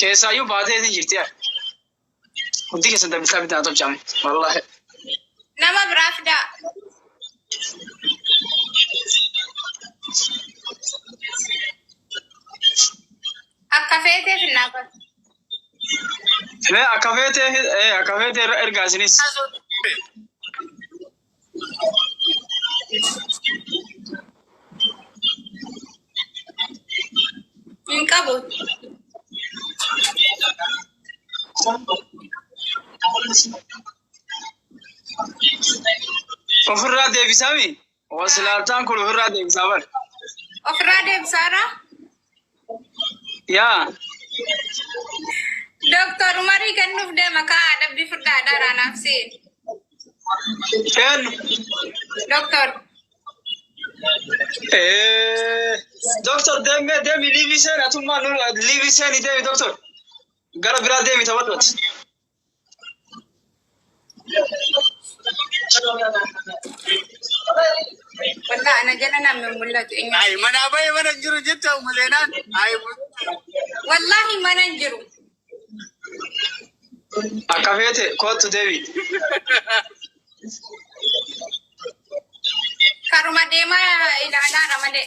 Keessaayyuu baatee isin jirti yaa. Hundi keessan dabbisaa bitaa tolchame. Wallaahi. Nama biraa fidaa. Akka feetee finnaa bara. Mee akka feete eh, akka feete irra ergaa isinis. Hin qabu. Ofirraa deebisaami. Osi laabtaan kun ofirraa deebisaa bar. Ofirraa deebisaara. Yaa. Doktor Umarii kennuuf deema kaa dhabbii fudhaa adaraa naaf seen. Kennu. Doktor. Eh, Doktor deemee deemi liiviseen atummaa nu liiviseen deemi doktor. Gara biraa deemi taphattooti. Wallah ana jala na min mul'atu eenyu. Ay mana baye mana jiru jetta mulenan. Ay Wallahi mana hin jiru. Akka feete kootu deebi. Karuma deemaa ilaalaadha malee.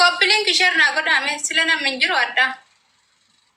Koppiliin kishee irraa godhaame sila namni hin jiru addaa.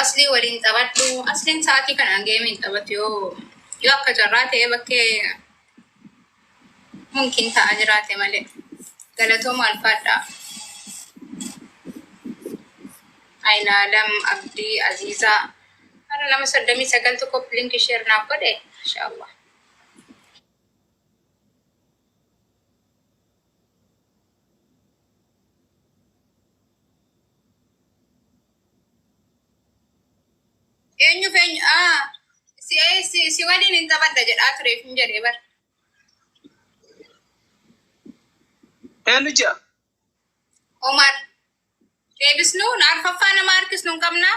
Aslii waliin taphadhu. Asliin sa'aatii kanaan geemiin taphatu yoo yoo akka carraa ta'ee bakkee mumkin ta'a jiraate malee. Galatooma alfaadhaa. Ayinaalam Abdii Aziizaa. Har'a nama soddomii sagal tokko link share naaf godhe. Masha Allah. Eenyuuf eenyu aa si si si waliin hin taphadha jedhaa tureef hin jedhee bar. Eenyu jira? Omar deebisnu arfaffaa nama harkisnu hin qabnaa.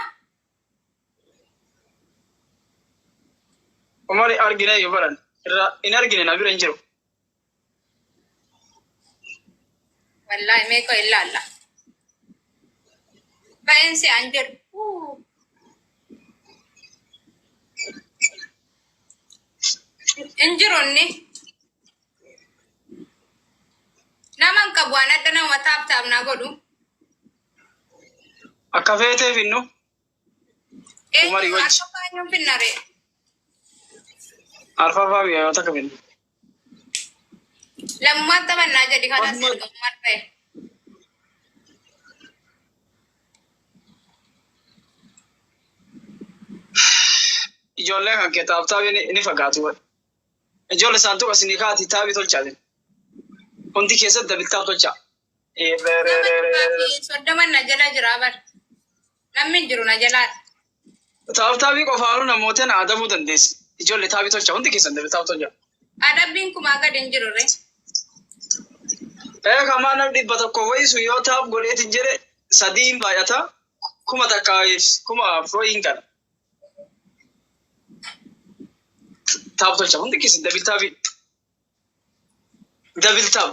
Umar argine yoo baran irraa hin argine na bira hin jiru. Wallaahi mee qoy ilaalla. Baay'een si an jedhu. Uu, Hin jiru inni. Nama hin qabu waan adda nama taap taap naa godhu. Akka feetee finnu Umarii Eenyu wajji. akka baay'een finnaree. arfaffaa mi'aayota akka finnu. Lammaan taphannaa jedhi kanas Amma- ergamummaan ta'e. Ijoollee kan kee taaptaabii ni- ni fagaatu. Ijoollee saantuqa isinii kaati taabii tolchaa jiru. Hundi keessatti dabiltaaf tolchaa. Nama duraa fi soddoman na jala jira bar. Namni hin jiru na jalaa. Taaptaabii qofaanuu namoota na adabuu dandeessi. Ijoollee taabii tolcha hundi keessan dabalataa tolcha. Adabbiin kumaa gad hin jiru ree. Ee kamaa nam dhibba tokko wayisu yoo taap godheetiin jedhe sadii hin baay'ata kuma takka kuma afur hin gala. Taap tolcha hundi keessan dabil taabii. Dabil taap.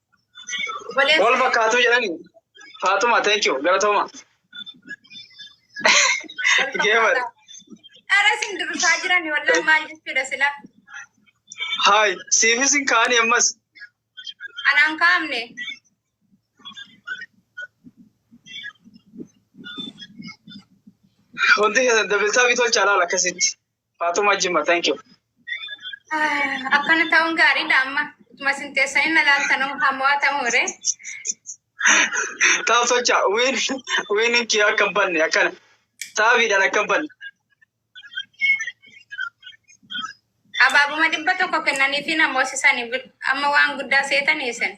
Wal fakkaatu jedhani. Faatuma thank you galatooma. Geeman. Dhara isin durusaa jiran wallaan maal jechuudha sila? Haay siifis hin kaa'ani ammas. Anaan kaa'amne. Hundi keessan dabaltaa bitolchaa laala akkasitti. Faatuma Jimma, thank you. Akkana ta'uun gaariidha amma. Utuma isin teessanii na laaltan hamo'aa ta'uure. Taa'u socha, wiin, wiin kee akka hin banne akkana. Saabiidhaan akka hin banne. Abaabuma dhibba tokko kennaniifi namoosisanii amma waan guddaa seetanii isin.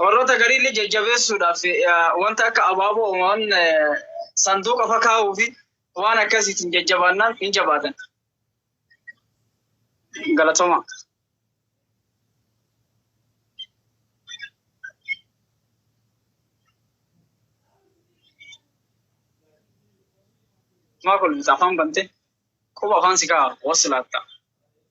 Warroota garii illee jajjabeessuudhaaf wanta akka abaaboo waan sanduuqa fakaa'uu fi waan akkasiitiin jajjabaannaan hin jabaatan. Galatoma. Maa kolfita afaan bante quba afaan si ka'a wasilaatta.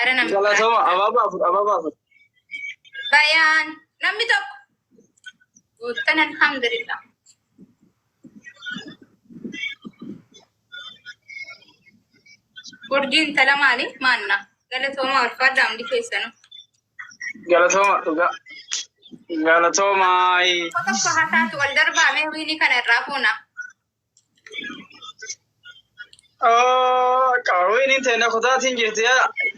Ara namni Galatoma ababa afur ababa afur. bayaan namni tokko guuttan alhamdulillah. Urjii intala maali maanna galatooma ulfaadha hundi keessanu. Galatoma dhuga. Galatoma. Tokko tokko hasaatu wal darbaamee wiini kana irraa fuuna. Qaawween hin ta'e kutaatiin jirti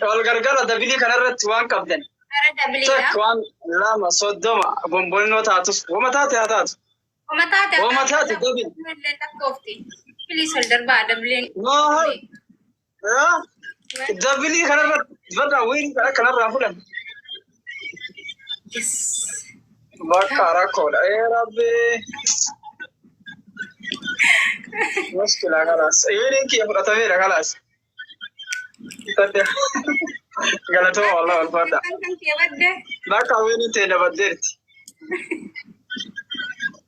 wal gargaara dabilii kanarratti waan qabdan. Gara dabiliidha. Takka waan lama soddoma gombolinoo taatus wama taate haa taatu. Wama taate Wama taate dabil. Illee lakkoofti. Piliis ol darbaa dabiliin. Noo Dabilii kanarra dibata wayii kana kanarraa fudhan. Bakka rakkoodha. Ee rabbii. Muskilaa kalaas. Iyyuu kiyya fudhatameera kalaas. Galatooma wallah walfadha. Bakka wayii ta'e dabaddeerti.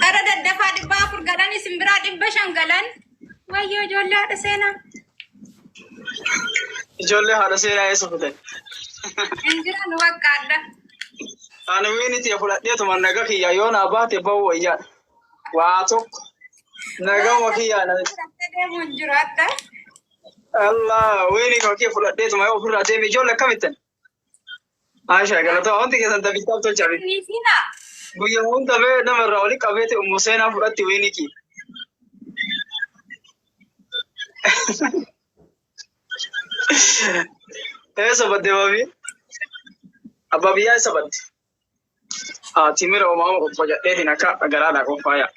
Gara daddafaa dhibba afur galan isin biraa dhibba shan galan. Wayyoo ijoollee haadha seenaa. Ijoollee haadha seenaa eessa futan? Hin jiran waqqaadha. Ani wiiniti fudhadheetuma naga kiyya yoo naa baate ba'uu wayyaa. Waa tokko naga wakiyyaa na Fudhattee deemuu hin jiru adda. Allah wiini koo kee fudhadheetuma yoo ofirraa deeme ijoollee akkamittan? Maashaa galatoo wanti keessan taphichaa tolcha miti. Niifiina. Guyya hunda bee namarraa oli qabeeti ummu seenaa fudhatti wiiniki. Ee sabadde maafi? Abbaa biyyaa sabadde. Haa timira omaa qofa jedheetiin akka garaadhaa qophaa'aa.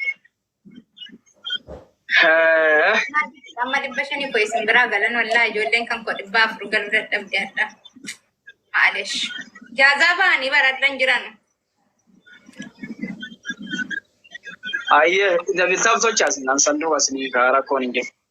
Amma dhibba shanii koo isin biraa galan wallaa ijoolleen kan koo dhibba afur galuu dadhabde adda. Maalesh. Jaazaa ba'anii baradhan jiran. Ayyee, dabisaaf sochaas naan sanduu asni kaa rakkoon hin jiru.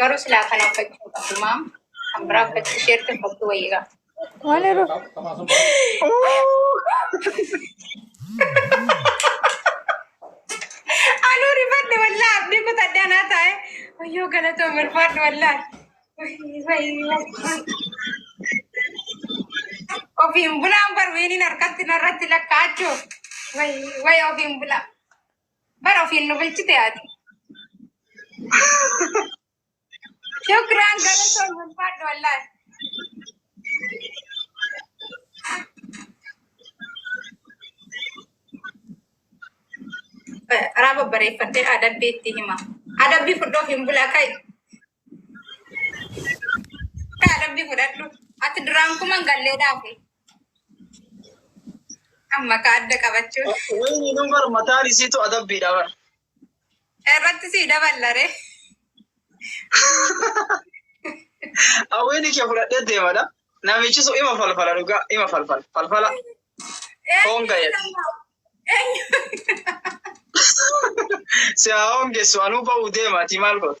Garuu silaa kana uffachuu hin qabdu maam. Kan biraa uffachuu isheerti uffachuu wayii qaba. Waan yeroo. Anuu rifadhe wallaa abdii kutadhe anaa taa'e. Wayyoo galatoo barbaadhu wallaa. Ofiin bulaan barweeniin harkatti narratti lakkaa'achuuf. Way way ofiin bulaa. Bara ofiin nu bulchite ati. Shukran galatoon ulfaadhu wallahi. Raaba bareeffadhee adabbii itti hima. Adabbii fudhoof hin bulaa kai. Kaa rabbi fudhadhu. Ati duraan kuman gallee dhaafe. Amma ka adda qabachuun. Wayni nu bar mataan isiitu adabbiidha bar. Irratti sii daballaree. Awweenii kee fudhadhee deemadha. Namichi sun ima falfala dhugaa ima falfala falfala foon ga'e Eenyu? si haa hongessu anuu ba'uu deemaati maal godhu.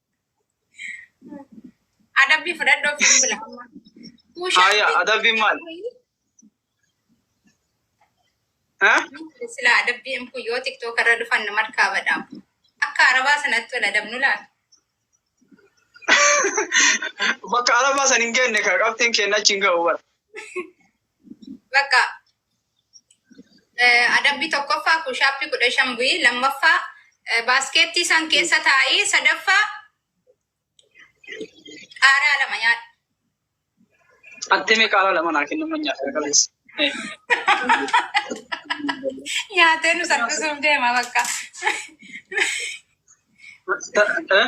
Adabbii fudhadhu ofiin bila. Aya adabbii maal? Ha? Sila adabbii hin kun yoo tiktook irra dhufan nama harkaa badhaam. Akka arabaa sanatti wal adabnu laata? Bakka arabaa san hin geenye kan qabxiin keenya achi hin ga'u bara. Bakka eh, adabbii tokkoffaa kuushaappii kudha shan bu'ii lammaffaa eh, baaskeettii san keessa taa'ii sadaffaa qaaraa lama nyaadhu. Attimee qaaraa lama naa kennu man nyaata qaleessa. Nyaatee nu salphisuuf deema bakka. Eh?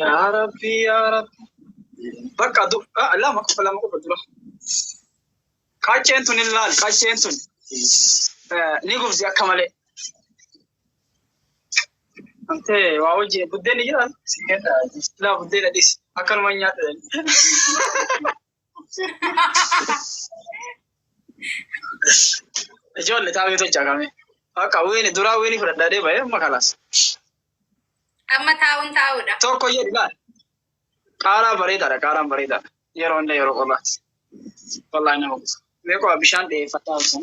Yaa Rabbi, yaa Rabbi. Bakka du- ah, lama qofa lama qofa dura. Qacceen tun hin laal, qacceen tun eh, ni gubdi akka malee. Amtee waa wajjin buddeenni jira. Laa buddeena dhisi. Akkanuma hin nyaadhu. Ijoollee taa'ee tolchaa qabee. Akka wiini duraa wiini fudhadhaa deema ee amma kalaas. Amma taa'uun taa'uudha. Tokko jedhu laal. Qaaraa bareedaadha qaaraan bareedaadha. Yeroo hunda yeroo qorraati. Wallaahi nama kutu. Meeqoo bishaan dhiyeeffadhaa osoo.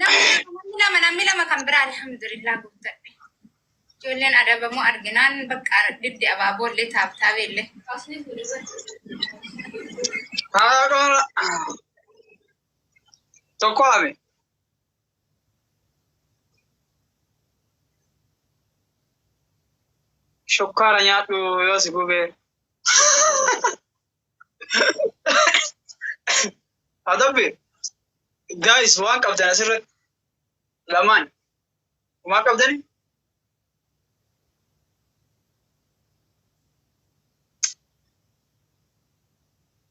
Namni lama namni lama kan biraa alhamdulillah guuttadhe. Ijoolleen adabamoo arginaan bakka didde abaaboollee taabtaabeellee. Haadhoora. Tokko haame. Shukkaara nyaadhu yoo si gubee. Adabbe, guys waan qabdan asirratti lamaan waan qabdan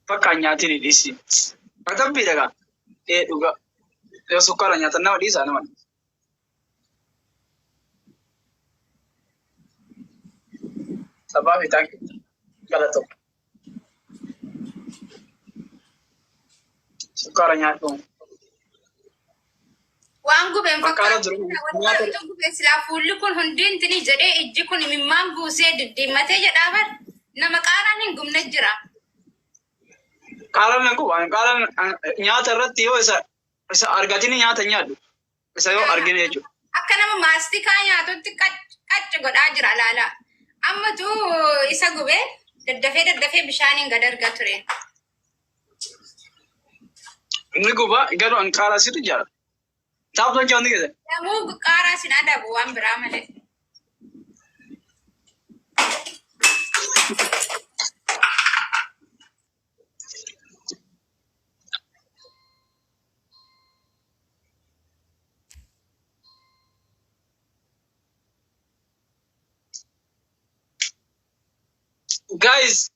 bakka nyaatiin hin dhiisin. Adabbiidha gaa. Ee dhugaa. Yoo sukkaara nyaatan nama dhiisaa nama dhiisa. Sabaa fi taanki jala tokko. Sukkaara nyaadhuun. Waan gubeen Fakkaata jiru. Wantoota gubeen silaa fuulli kun hundi intini jedhee ijji kun imimmaan buusee diddiimmatee jedhaa bar nama qaaraan hin gubne jira. Qaaran nan guba. Qaaran nyaata irratti yoo isa isa argatini nyaata nyaadhu. isa yoo argine jechuudha. Akka nama maastikaa nyaatutti qacci godhaa jira ilaalaa. Ammatu isa gubee daddafee daddafee bishaaniin gad arga ture. Inni guba garuu an qaaraa situ jaala. Taa'u kan jaanni gada. Namuu qaaraa sin adabu waan biraa malee. Guys,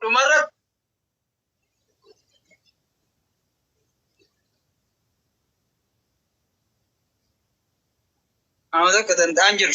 dhumarratti Amma tokko danda'an jiru.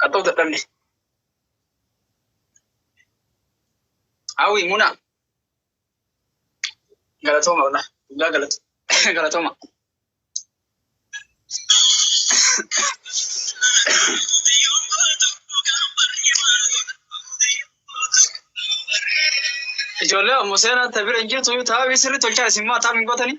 Qaxxoo dadhabne. Hawwi muna. Galatooma walaa. Dhugaa galatu. Galatooma. Ijoollee ammoo seenaa tabira hin jirtu taa'aa sirri tolchaa isin maa taa'aa hin gootanii?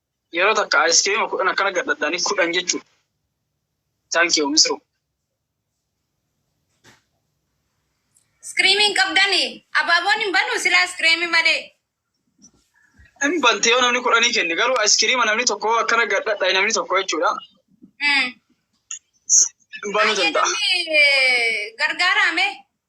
Yeroo takka ice cream kudhan akkana gad dhadhaanii kudhan jechuudha. Thank you misru. Iskiriimii hin qabdani. Abaaboon hin banu silaa iskiriimii malee. Hin bante yoo namni kudhanii kenne garuu ice cream namni tokko akkana gad dhadhaa'e namni tokko jechuudha. Mm. Hin banuu danda'a. Fayyadamni gargaaraame.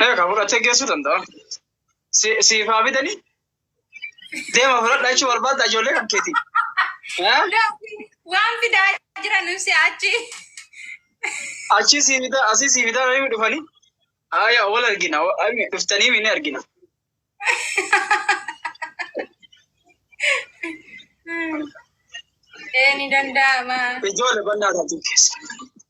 Eegaa kan fudhattee geessuu danda'a. Si- Siif haa bitanii deema fudhadhaa jechuu barbaadda ijoollee kan keetii. Eh? Waan fidaa jiran ibsi achi. Achii sii bitaa asii sii bitaa namni dhufanii. Aayaa wal argina wa- ai- dhuftanii ni argina. Ee ni danda'ama. Ijoollee bannaa taatu keessa.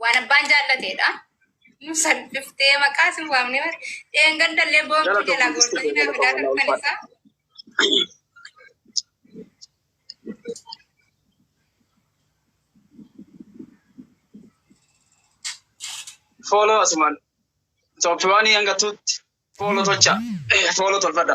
Waan abbaan jaallateedha. Nu salphiftee maqaa sin waamne bar. Dheengadhallee boontuu jalaa goortanii naa fidaa turtan isaa. Fooloo asumaan. Tooppiwaanii hanga tuutti. Fooloo tolcha. Fooloo tolfadha.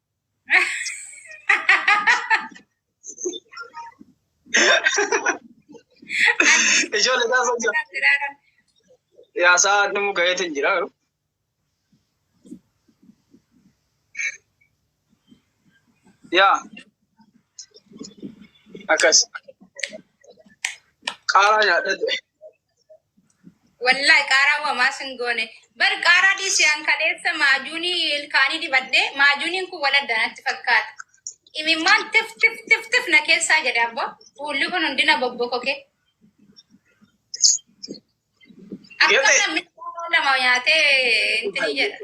Ijoollee taasisa jira. Yaa sa'a dhumuu gaheetiin jira. Yaa akkas qaaraa nyaadhadhe. Wallahi qaaraa wamaa sin goone. Bar qaaraa dhiisi an kaleessa maajuunii ilkaanii dibadhe maajuuniin kun wal adda natti fakkaata. Imimmaan tif tif tif tif na keessaa jedhe abbo. Fuulli kun hundina bobbokoke. Akkam Yote. namni qaaraa lama nyaatee intini jedha.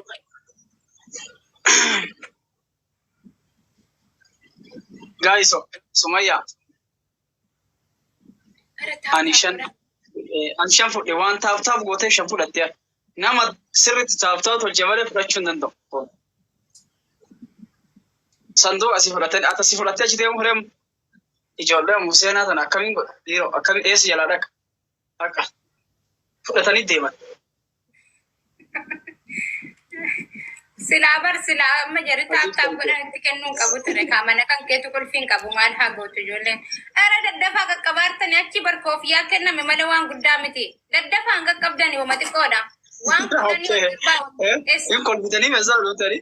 Guys, Sumaya. Ani shan eh, ani shan fudhe waan taaf taaf gootee shan fudhatte nama sirriitti taaf taaf tolche malee fudhachuu hin danda'u. Sandoo asii fudhattee ati asii fudhattee achi deemu hiremu ijoollee museenaa tana akkamiin godha dhiiroo akkamiin eessa jalaa dhaqa. Haqa. Fudhatanii deeman. Silaa bar silaa amma jarri taaptaap godhan itti kennuu hin qabu ture kaa mana kan keetu qulfii hin qabu maal haa gootu ijoolleen. Ara daddafaa qaqqabaartanii achi bar koofiyaa kenname malee waan guddaa miti. Daddafaa hin qaqqabdani wama xiqqoodha. Waan guddaa ni hojjetaa. Hin kolfitanii meeshaa dhufutanii.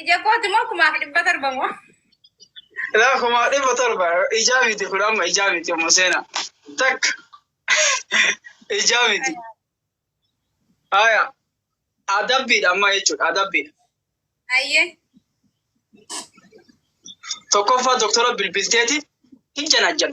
Ija kooti moo kumaaf dhibba torba moo? Ilaa kumaa dhibba torba ijaa miti kun amma ijaa miti amma seena takka ijaa miti. Haya adabbiidha amma jechuudha adabbiidha. Ayyee. Tokkoffaa doktora bilbilteeti hin janajjan.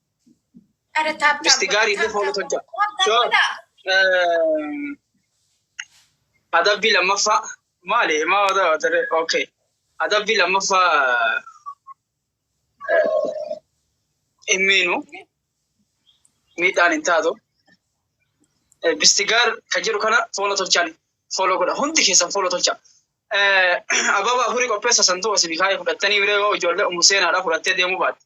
Ada tap tap. Misti gaarii fi fooloo tolcha. Sure. Eh, Adabbii lammaffaa maali? Maa wata watare? Okay. Adabbii lammaffaa hin miinu miidhaan hin taatu. Eh, Misti gaar kan jedhu kana fooloo tolchaan fooloo godha. Hundi keessan fooloo tolcha. Eh, Ababa afurii qopheessa santuu asii bikaayee fudhattanii biree yoo ijoollee umu seenaadhaa fudhattee deemuu baatte.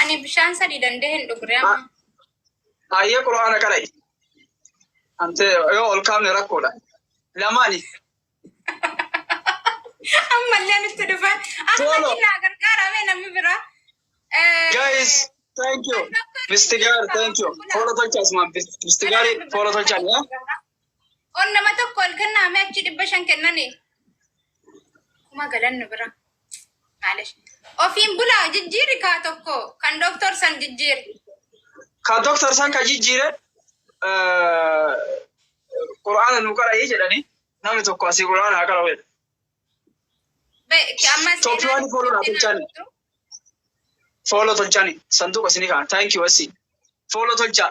Ani bishaan sadii dandee hin dhugre amma. Ayyee qura'aana qara'i. Amtee yoo ol kaafne rakkoodha. Lamaani. Ammallee nutti dhufa. Solo. Asumatti naa gargaarame namni biraa. Eh, Guys, thank you. Mistigaar, thank you. Foola tolcha asumaan. Mistigaari foola tolcha. On nama tokko ol kennaame achi dhibba shan kennani. Kuma galan nu bira. Ofiin bulaa jijjiirri kaa tokko kan doktor san jijjiirri. Ka doktor san ka jijjiire Qur'aana nu qara'ii jedhanii namni tokko asii Qur'aana haa qara'u jedhe. Tooppiiwwan fooloo naa tolchaani. Fooloo tolchaani. Sanduuqa isinii kaa'an. Thank you asii. Fooloo tolchaa.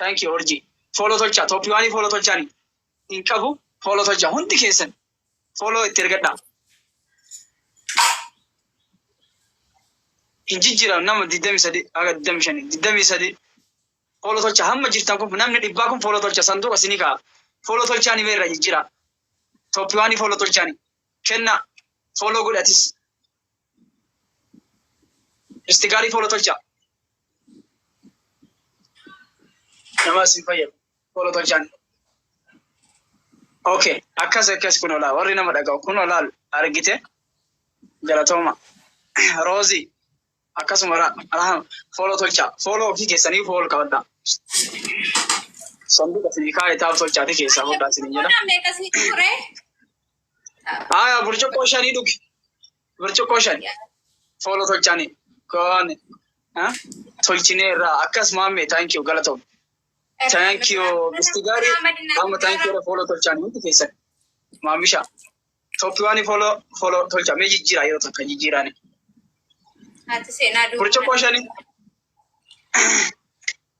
Thank you urjii. Follow tolchaa top one follow tolchaa ni. Hin qabu follow tolchaa hundi keessan. Follow itti ergadhaa. Hin jijjiiran nama 23 haga 25 23 follow tolchaa hamma jirtan kun namni dhibbaa kun follow tolchaa sanduuqa isinii ka'a. Follow tolchaa ni meerra jijjiiraa. Top one follow tolchaa ni. Kenna follow godhatis. Isti gaarii tola tolchaa. Nama isin fayyadu tola tolchaan. Ok akkas akkas kun olaa warri nama dhaga'u kun olaal argite galatooma roozi akkasuma ra- rahama fooloo tolchaa fooloo ofii keessanii fool qabadhaa sanduuqa isinii kaa'e taa'u tolchaati keessaa hodhaa isinii jedha Kun meeqasni ture? Haya, burcuqqoo shanii dhugi. Burcuqqoo shan. Fooloo tolchaanii. Koon. Tolchinee irraa. Akkas maammee. Thank you. Galatoom. Thank you. Bisti gaarii. Amma thank you. Fooloo tolchaanii hundi keessan. Maamisha. Tooppiwaanii fooloo fooloo tolcha. Mee jijjiiraa yeroo tokko jijjiiraani. Ati seenaa duuba. Burcuqqoo shanii.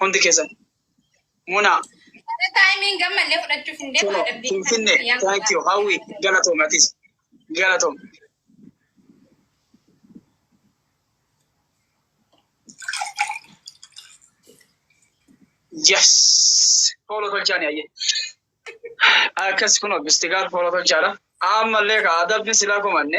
Hundi keessan. Munaa. Mana taayimiin gammallee fudhachuuf hin deemu. Tola. Finfinne. Thank you. Hawwi. Galatoom atis. Galatoom. Yes. Hooloo tolchaa ni ayyee. Akkas kun obbistigaal hooloo tolchaadha. Ammallee kaa adabbiin silaa komanne.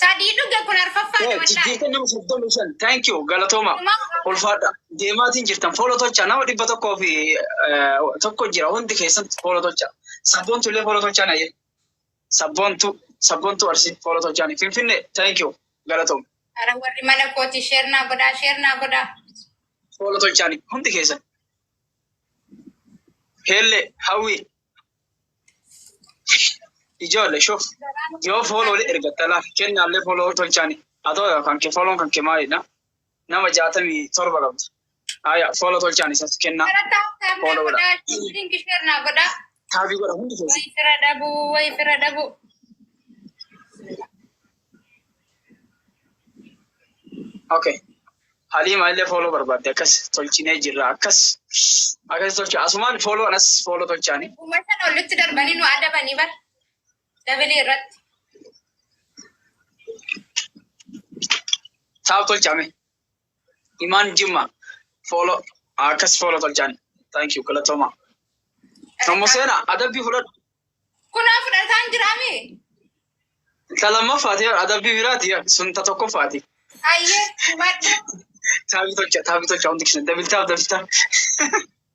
Sadii dhuge kun arfaffaa dha wallaahi. Jijjiirtan nama soddomii shan. Thank you. Galatooma. Ulfaadha. Deemaatiin jirtan. Fooloo tolchaa. Nama dhibba tokkoo fi eh, tokko jira. Hundi keessan fooloo tolchaa. Sabboontu illee fooloo tolchaa na jedhe. Sabboontu sabboontu arsi fooloo tolchaa. Finfinnee. Thank you. Galatooma. Ara warri mana kooti sheer naa godhaa sheer naa godhaa. Fooloo tolchaa hundi keessan. Heellee hawwii Ijoollee shuf yoo fooloo wali ergatta laaf kennaallee fooloo tolchaani haa ta'u yaa kan kee fooloon kan kee maalidha nama jaatamii torba qabda haya fooloo tolchaan isas kennaa fooloo godha taabii godha hundi keessa Way fira dhabu, way fira dhabu. Okay. Haliima illee fooloo barbaadde akkas tolchinee jirra akkas akkas tolcha asumaan fooloo anas fooloo tolchaani. Dhuma sana olitti darbanii nu adabanii bar dabilii irratti. Taa'u tolchaame. Imaan Jimma follow akkas follow tolchaan. Thank you galatoomaa. Nammo seenaa adabbii fudhadhu. Kunaa fudhataan jiraame. Ta lammaffaati adabbii biraati sun ta tokkoffaati. Ayyee madda. Taabii tolcha taabii tolcha hundi keessan dabiltaaf dabiltaaf.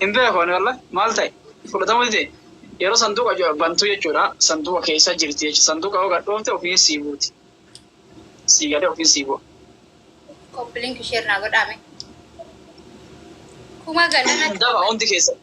Hin beeku ani wallahi maal ta'e fudhatamuu dide yeroo sanduuqa jo- bantu jechuudha sanduuqa keessa jirti jechuudha sanduuqa yoo gadhoofte ofiin sii buuti sii gadee ofiin sii bu'a. Koppilink ishee irraa godhaame. Kuma galana Daba hundi keessatti.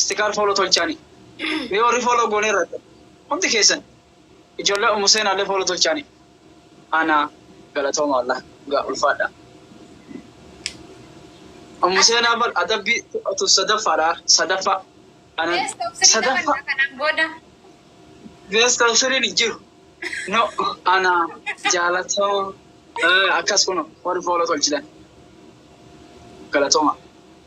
Sticker follow tolchaani mee warri follow gooneerra hundi keessan ijoollee ummu seenaallee follow tolchaani ana galatooma wallah dhugaa ulfaadha ummu seenaa bar adabbii tu sadaffaadha sadaffa ana Beesta of sirrii sadaffa taphanna kanaan booda. beesta siriin hin jiru no ana jaalatooma Eh, akkas kuno warri follow tolchitan galatooma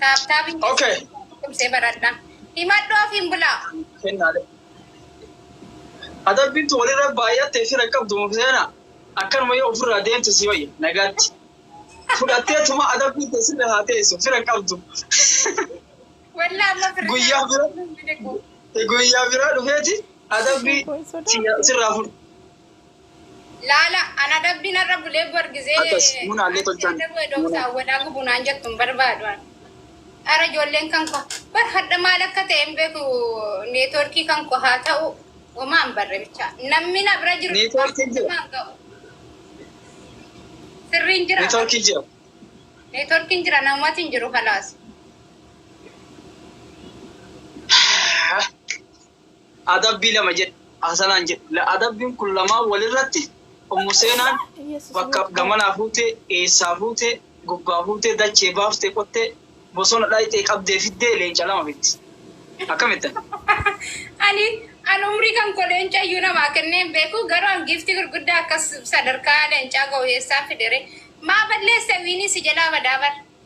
Taaptaabiin Ok. keessan cimsee baradha. Himadhu ofiin bulaa. Kennaalee. Adabbiin tun walirra baay'attee fira hin qabdu mukteena. Akkanuma yoo ofirraa deemte si wayya. Nagaatti. Fudhattee tuma adabbiin tee sirra haa teessu. Fira hin qabdu. Wallah amma firri Guyyaa naa- bira. miliqu. Guyyaa biraa dhufeeti Isheen adabbii koo hin sodaattu. siyya- sirraa fudhu. Laala an adabbii narra bulee bor gizee Akas muna alle ansi tolchan adabuu edoo muna. saan wadaa gubuu naan jettu hin barbaadu an. Ara ijoolleen kan koo bar hadha maal akka ta'e hin beeku neetworkii kan koo haa ta'u homaa hin barre bichaa namni na bira jiru Neetworkiin jira. namaan ga'u. Sirriin jira Neetworkii jira. neetworkiin jira namumati hin jiru kalaas. adabbii lama jedhe. Hasanaan jedhe, la adabbiin kun lamaan walirratti Ummu Seenaan bakka gamanaa fuutee, eessaa fuutee, gubbaa fuutee, dachee baaftee qottee, bosona dhayxee qabdee fiddee leenca lama fiddi. Akkamittan? Ani an umrii kan koo leenca iyyuu namaa kennee hin beeku, garuu an giiftii gurguddaa akkas sadarkaa leencaa gahu eessaan fide ree? Maa balleesse wiinii si jalaa badaa bar.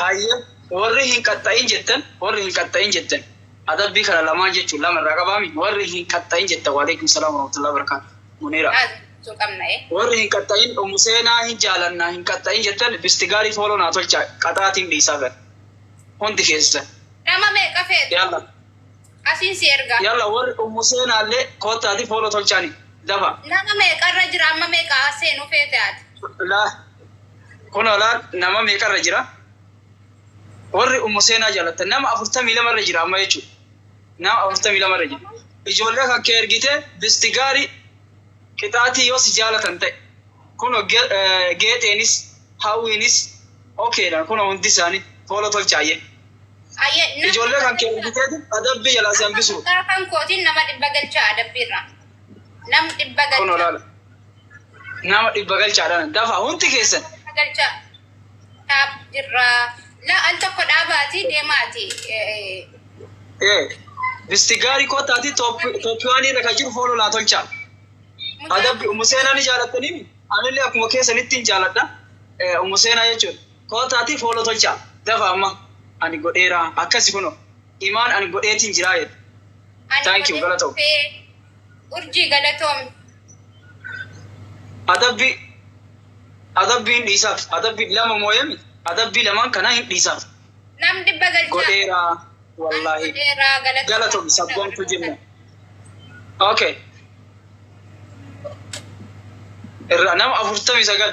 Hayyee warri hin qaxxa'in jettan warri hin qaxxa'in jettan adabbii kana lamaan jechuun lama irraa qabaami warri hin qaxxa'in jettan waaleykum salaam warahmatullahi wabarakaatu muniira Jechuu qabna ee. warri hin qaxxa'in ummu seenaa hin jaalanna hin qaxxa'in jettan bistigaarii fooloo naa tolchaa qaxaatiin dhiisaa gara hundi keessan Nama meeqa feetu? yaallah Asiin si ergaa. Yalla warri ummu seenaalle koottaati follow tolchaani dafa. Nama meeqa irra jira amma meeqa haa seenu feete ati. Laa kunoo laal nama meeqa irra jira warri ummu seenaa jaalattan nama afurtamii lama irra jira amma jechuudha nama afurtamii lama irra jira ijoollee kan kee ergite bisti gaarii qixaatii yoo si jaalatan ta'e kunoo ge- eh, geexeenis hawwiinis okeedha kunoo hundi isaanii fooloo tolchaayye Ayyee, nama- Ijoollee kan kee argiteetu adabbii jalaa si hambisuu. Gaafan kootiin nama dhibba galchaa adabbiirra. Nam dhibba Kun galchaa. olaala. Nama dhibba galchaadhaan dafa hundi keessan. Dhibba galchaa. Dhaab jirra. La al tokko dhaabaati deemaati. Eh, Ee, bisti gaarii kootaati Tooppiwaanii irra kan jiru foon olaa tolchaa. mucaa- Adabbi umu seenaa ni jaalatanii anillee akkuma keessanitti hin jaaladha. Ee, Umu seenaa jechuudha. Kootaatii fooloo tolchaa, dafaa amma. Ani godheera, akkasi kunoo. Imaan ani godheetiin jiraa jedhe. Ani Thank you, godhee galatoom. dhufee. Urjii galatoomi. Adabbi Adabbi hin dhiisaaf. Adabbi lama mooyami. Adabbii lamaan kanaa hin dhiisaaf. Nam dhibba galchaa. Godheera Ani wallaahi. godheera galatoomi. Galatomi sabboontuu jenna. Okay. Irraa nama afurtamii sagal.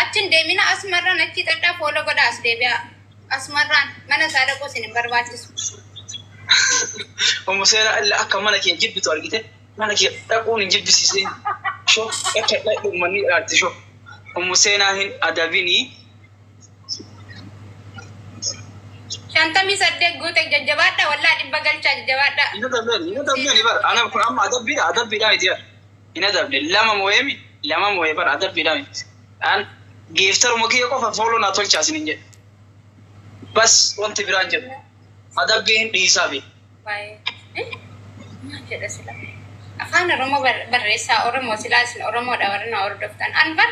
Achi hin deemina asmarraan achi xadhaa foola godha as deebi'a. Asmarraan mana isaa dhaquu isin hin barbaachisu. Ummu seeraa illa akka mana kee jibbitu argite mana kee dhaquun hin jibbisiisin. Sho akka dhaqu manni dhaalte sho. Ummu seenaa hin adabini. Shantamii saddeet guute jajjabaadha wallaa dhibba galchaa jajjabaadha. Hin adabani hin adabani bar ana kun amma adabbiidha adabbiidha miti bar. hin adabne lama moyemi lama moye bar adabbi dhami an geeftaruma kiyya qofa fooloo naa tolchaa sinin jedhe bas wanti biraan jedhu adabbii hin dhiisaafi Baay'ee. Maal jedha sila? Afaan Oromoo bar- barreessaa Oromoo silaa isin Oromoodha warri na hordoftan. An bar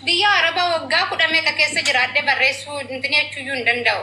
biyya Arabaa waggaa kudha meeqa keessa jiraadhee barreessuu intinii jechuuyyuu hin danda'u.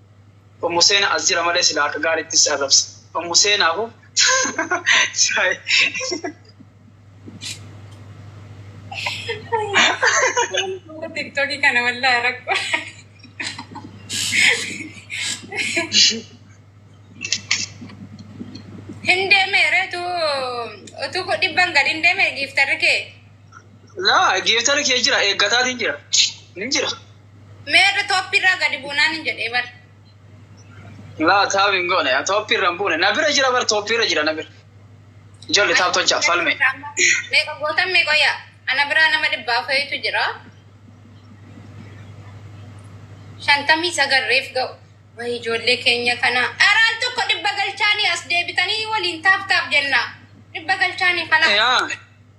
Ummu seena as jira malee silaa akka gaaritti si arrabsa ummu seena ho tiktoki kana wallahi rakko hin deeme reetu utuu ko dhibban gad hin deeme giiftarri kee laa giiftarri kee jira eeggataatiin jira hin jira Meerre tooppi irraa gadi buunaan hin jedhee bar. Laa taab hin goone tooppi irra hin buune na bira jira bar tooppi irra jira na bira. Ijoolli taab tolchaa falme. Meeqa gootan meeqa yaa? Ana biraa nama dhibbaa fa'itu jira. Shantamii sagal reef ga'u. Wayi ijoollee keenya kana. Dharaan tokko dhibba galchaanii as deebitanii waliin taap taap jenna. Dhibba galchaanii kana. Yaa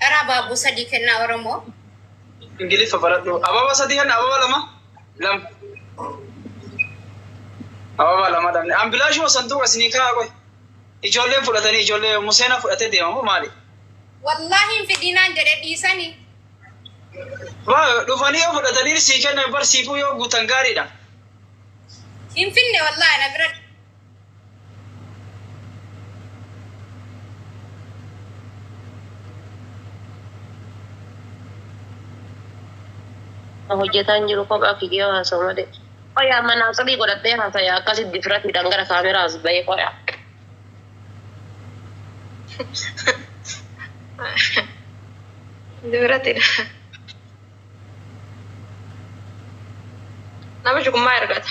Dharaa baabuu sadii kennaa Oromoo. Ingiliffa baradhu. Ababa sadii hanna ababa lama. Lam. Ababa lama dhabne. An bilaashuma sanduuqa isinii kaa'aa qoy. Ijoolleen fudhatanii ijoollee museena fudhatee deema moo maali? Wallaahi hin fidinaan jedhe dhiisani. Baa dhufanii yoo fudhatanii sii kennan barsiifuu yoo guutan gaariidha. Hin finne wallaahi na bira hojjetaan jiru kophaa figee haasa'u malee. Qoyaa manaa xirii godhadhee haasaya akkasitti difratiidhaan gara kaameraa as bahee qoyaa. Difratiidha. Namichi kun maa ergata?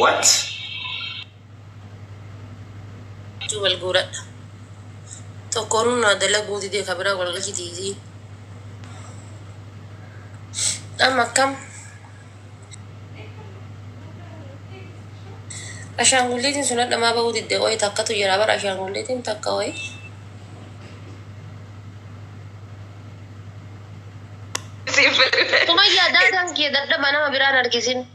What? Juu wal guuradha. Tokkoonuu naa dalaguu didee ka biraa wal galchitiisii. Amma akkam? Ashaangulliitiin sun hadha maa bahuu didde qoyi takkatu jira bara ashaangulliitiin takka wayi. Sumayyaa daadaan kee dadhaba nama biraan harkisin.